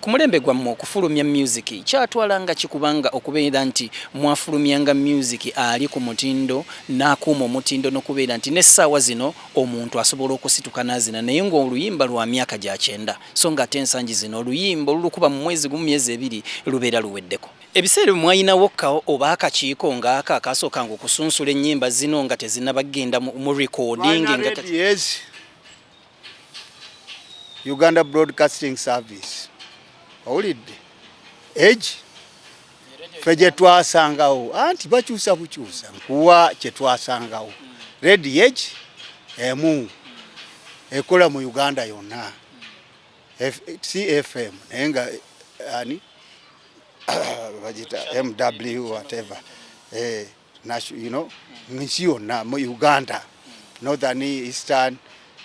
Ku mulembe gwammwe okufulumya myuziki kyatwala nga ki kubanga okubeera nti mwafulumyanga myuziki ali ku mutindo n'akuuma omutindo n'okubeera nti n'essaawa zino omuntu asobola okusituka n'azina naye ng'oluyimba lwa myaka gya kyenda so ng'ate ensangi zino oluyimba olulukuba mu mwezi gumu, myezi ebiri lubeera luweddeko. Ebiseera ebyo mwalinawo ka oba akakiiko ng'ako akaasookanga okusunsula ennyimba zino nga tezinnaba kugenda mu recording? Twalina radios. uganda broadcasting service owulidde egi fe gyetwasangawo anti bakyusa bukyusa nkuwa kyetwasangawo redi egi emu ekola mu uganda yonna cfm naye nga ani bagita mw whatever eh. you know, nsi yonna mu Uganda northern eastern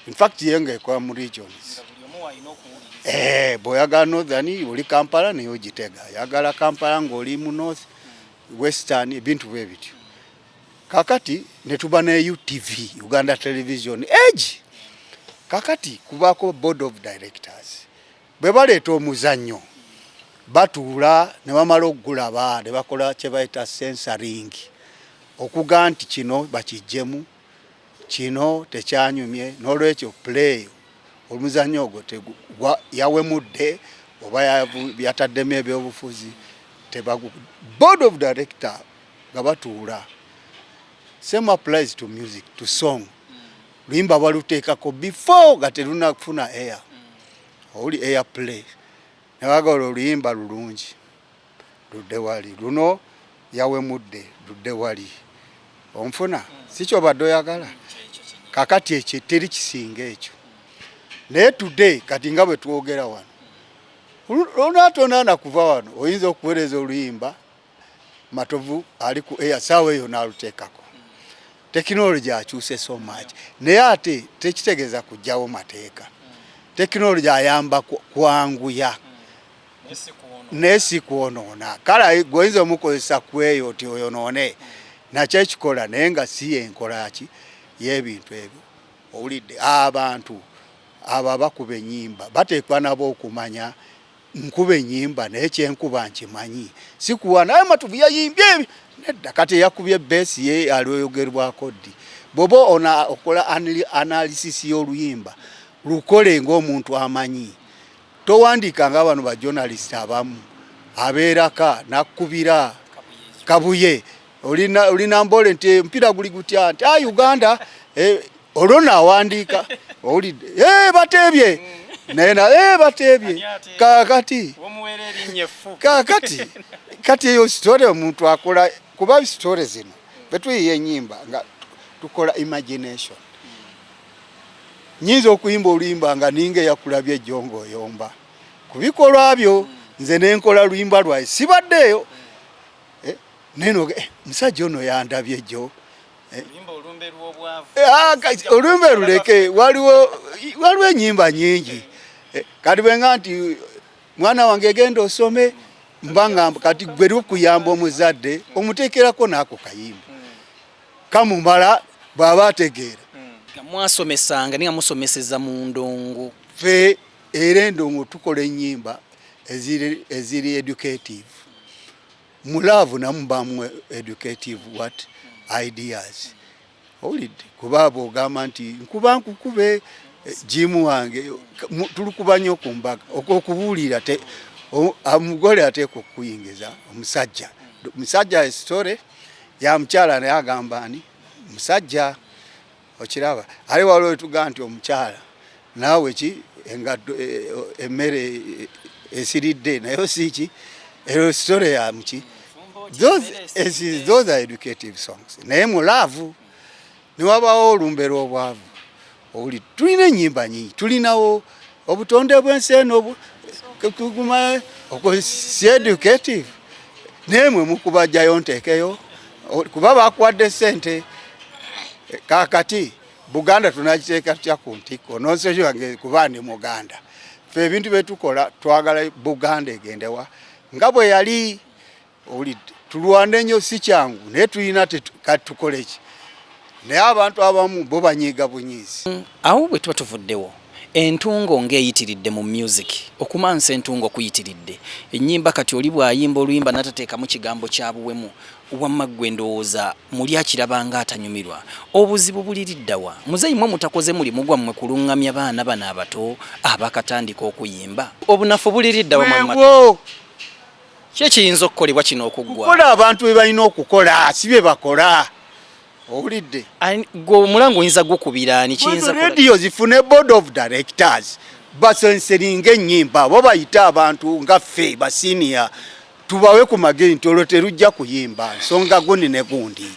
in fact yenga ekola mu regions eh, bw'oyagala northern oli Kampala naye ogitega yagala Kampala ng'oli mu north western ebintu bwe bityo kakati ne tuba ne UTV Uganda Television egi kakati kubaako board of directors Bwe baleeta omuzannyo batuula ne bamala okugulaba ne bakola kye bayita sensoring okuga nti kino bakiggyemu kino tekyanyumye n'olwekyo play omuzannyo ogwo yawemudde oba yataddemu ebyobufuzi tebagu board of director nga batuula same applies to music to song luyimba baluteekako before nga terunafuna air oli air play newagala oluyimba lulungi ludde wali luno yawemudde ludde wali onfuna sikyobadde oyagala kakati ekyo teri kisinga ekyo naye today kati nga bwe twogera wano olunaatonana kuva wano oyinza okuweereza oluyimba Matovu ali ku air saawa eyo n'aluteekako tekinologi akyuse so much naye ate tekitegeeza kujjawo mateeka tekinologi ayamba kwanguya naye si kwonoona kale gwoyinza omukozesa ku eyo ti oyonoone nakyo ekikola naye nga si yenkolaki y'ebintu ebyo owulidde abantu abo abakuba ennyimba bateekwa nabo okumanya nkuba enyimba naye kyenkuba nkimanyi sikuwa naye matuvu yayimbye nedda kati yakubye besi ye alioyogerwako ddi bwoba ona okola analysis y'oluyimba lukole ng'omuntu amanyi towandiika nga bano bajournalist abamu abeeraka nakubira kabuye olinamboole nti omupiira eh, guli gutya nti a ah, uganda eh, olwo nawandiika owulidde eh, bateebye naye na bateebye kakati kakati kati eyo sitore omuntu akola kuba sitore zino betuyiye enyimba nga tukola imagination nyinza okuyimba oluyimba nga ninga eyakulabye ejongo oyomba kubikolwa byo nze nenkola luyimba lwaye sibaddeeyo naye no eh, musajja ono yandabye jo eh. ah, olumbe luleke waliwo waliwo enyimba nyingi eh, kati bwenga nti mwana wange egenda osome mbangamba kati gwe lukuyamba omuzadde omuteekerako naako kayimba hmm. kamumala bwaba ategeera hmm. mwasomesanga ninga musomeseza mu ndongo fe era endongo tukola enyimba eziri educative mu love namu bamu educative what ideas owulidde kuba bwogamba nti nkuba nkukube eh, jimu wange tulukuba nnyo ku mbaga okwokubuulira omugole ateeka okukuyingiza omusajja musajja esitore ya mukyala naye agamba ani musajja okiraba aye waliwo wetugaa nti omukyala naawe ki engaddo e, e, emmere e, esiridde naye osiiki ero story ya muki those are educative songs naye mu laavu newabawo olumbe lw'obwavu owuli tulina ennyimba nyingi tulinawo obutonde bwensi eno tuguma si educative naye mwe mukubajjayo nteekeyo kuba bakuwadde sente kakati buganda tunagiteeka tutya ku ntikko nonsensi wange kuba ndi muganda fe ebintu byetukola twagala buganda egendewa nga bwe yali owulidde tulwana ennyo si kyangu naye tulina kati tukole ki naye abantu abamu bo banyiiga bunyiizi mm, awo bwe tuba tuvuddewo entungo ng'eyitiridde mu music okumansa entungo kuyitiridde ennyimba kati oli bw'ayimba oluyimba n'atateekamu kigambo kya buwemu wamma ggwe ndowooza muli akirabanga atanyumirwa obuzibu buliriddawa muzeeyi mwe mutakoze mulimu gwammwe kuluŋŋamya baana bano abato abakatandika okuyimba obunafu buliriddawa ki ekiyinza okukolebwa kino okuggwa kukola abantu be balina okukola si bye bakola owulidde gwe omulanga oyinza gukubiraani kiyinza radio zifune board of directors basenseringa ennyimba bo bayite abantu nga ffe basiniya tubawe ku magezi nti olwo terujja kuyimba nsonga gundi ne gundi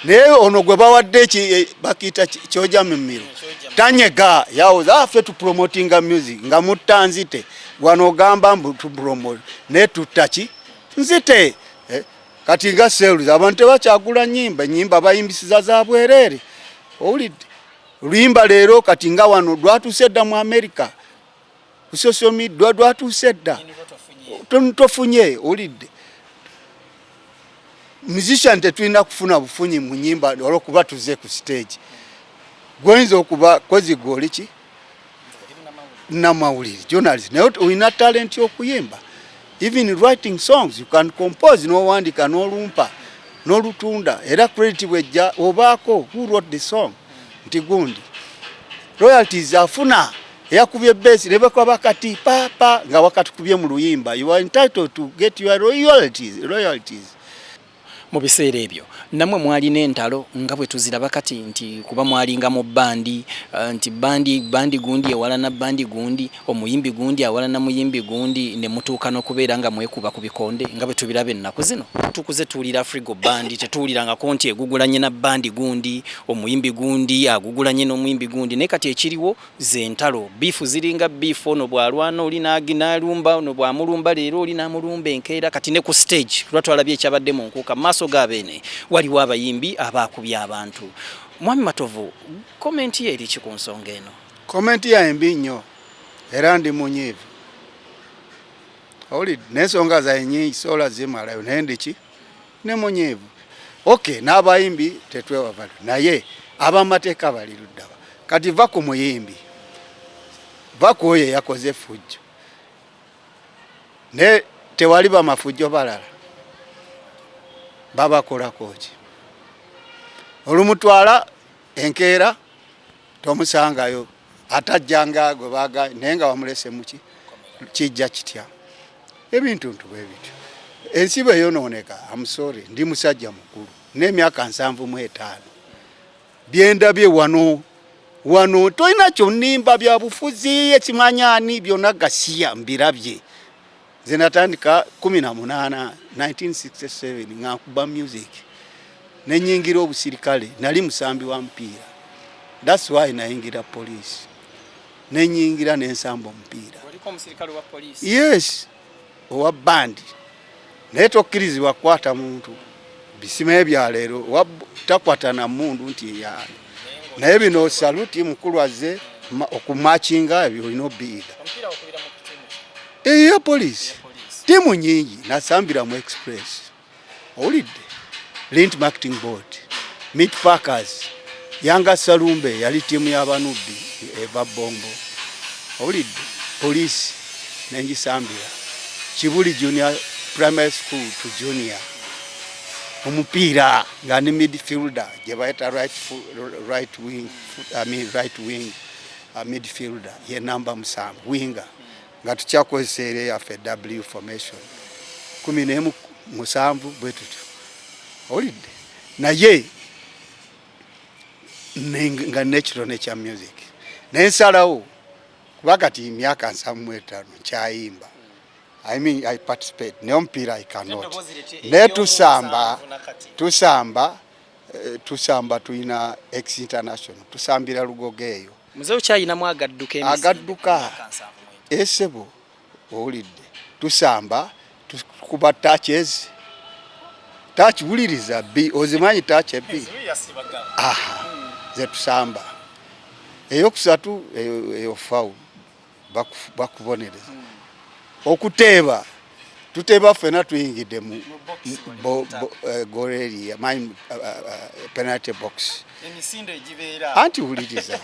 naye ono gwe bawadde e, bakiita kyoja mumiro tanyega yawoza afe ah, tupromotinga music nga mutta nzite wano ogamba mbu tupromo naye tuttaki nzite eh, kati nga sales abantu tebakyagula nyimba nyimba bayimbisiza za bwerere owulidde luyimba leero kati nga wano lwatuse dda mu america ku social media dwatuuse dda tofunye olidde musician tetulina kufuna bufunyi mu nyimba olwokuba tuze ku stage gwoyinza okuba kozi gwoli ki namawulire journalist naye olina talenti okuyimba even writing songs you can compose nowandika nolumpa nolutunda era credit bwejja obaako who wrote the song nti gundi royalties afuna eyakubye base ne bakwaba kati papa nga wakatukubye mu luyimba you are entitled to get your royalties royalties mu biseera ebyo namwe mwalina entalo nga bwe tuziraba kati nti kuba mwalinga mu bandi eh, nti bandi bandi gundi ewalana bandi gundi Omuyimbi gundi awalana muyimbi gundi ne mutuuka n'okubeera nga mwekuba ku bikonde nga bwe tubiraba ennaku zino. Tukuze tuwulira Frigo bandi, tetuwulirangako nti egugulanye na bandi gundi, omuyimbi gundi agugulanye n'omuyimbi gundi. Naye kati ekiriwo ze ntalo, bbiifu ziringa bbiifu, ono bw'alwana oli n'alumba, ono bw'amulumba leero oli n'amulumba enkeera. Kati ne ku siteegi lwa twalabye ekyabadde mu Nkuuka, mu maaso ga Beene waliwo abayimbi abaakubye abantu. Mwami Matovu, komenti yo eri ki ku nsonga eno? Komenti yange mbi nnyo era ndi munyiivu. Owulidde n'ensonga zange nyingi soola zimalayo naye ndiki ne munyiivu. Okay, n'abayimbi tetwewavalo naye abamateeka bali luddaba. Kati va ku muyimbi, va ku oyo eyakoze effujjo naye tewali bamafujjo balala babakolako ki olumutwala enkeera tomusangayo atajjanga gwe baga naye nga wamulese muki kijja kitya ebintu ntu bwe bityo ensi bwe yonooneka amusore ndi musajja mukulu n'emyaka nsanvu mu etaano byendabye wano wano tolina kyonimba byabufuzi ekimanyani byonna gasiya mbirabye nze natandika kumi na munaana 1967 nga nkuba music nenyingira obusirikale nali musambi wa mupiira thats why nayingira police nenyingira nensamba omupiira yes owa bandi naye tokkirizibwa kukwata muntu bisimaye bya leero takwata na mundu nti eyali naye bino saluti mukulu azze okumakinga ebyo olina obiyiga eya polisi tiimu nyingi nasambira mu express owulidde lint marketing board meat packers Yanga Salumbe yali ttiimu y'abanubbi eva Bombo, owulidde poliisi nengisambira Kibuli junior primary school to junior omupiira nga ni midfielder gye bayita right, right wing, I mean right wing uh, midfielder ye namba musanvu winga nga tukyakozesa era yaffe w formation kumi nemu musanvu bwe tutyo owulidde naye nga natural nature music naye nsalawo kuba kati myaka nsamu etaano nkyayimba I mean, I participate naye omupiira I cannot naye tusamba tusamba eh, tusamba tulina ex international tusambira lugogo eyo mzee okyayinamu agadduka agadduka esebo eh, owulidde tusamba tukuba touches touch wuliriza bi ozimanyi touch ebi aha zetusamba eyokusatu eyo fawu bakubonereza hmm. okuteeba tuteeba ffena tuyingidde mu eh, goreri my eh, eh, penalty box anti wuliriza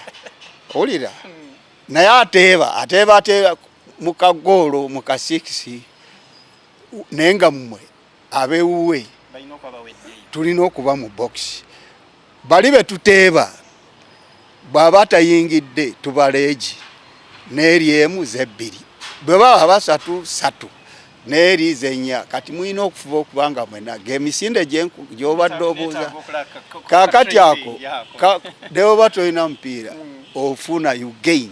owulira hmm. naye ateeba ateeba ateeba mu kagoolo mu kasikisi naye nga mmwe abewuwe tulina okuba mu bokisi bali be tuteeba bw'aba tayingidde tubaleegi n'eri emu z'ebbiri bwe baba basatu satu naye liizi ennya kati mulina okufuba okuba nga mwena gemisinde gyobadde obuuza kakati ako newoba tolina mupiira mm. ofuna you gain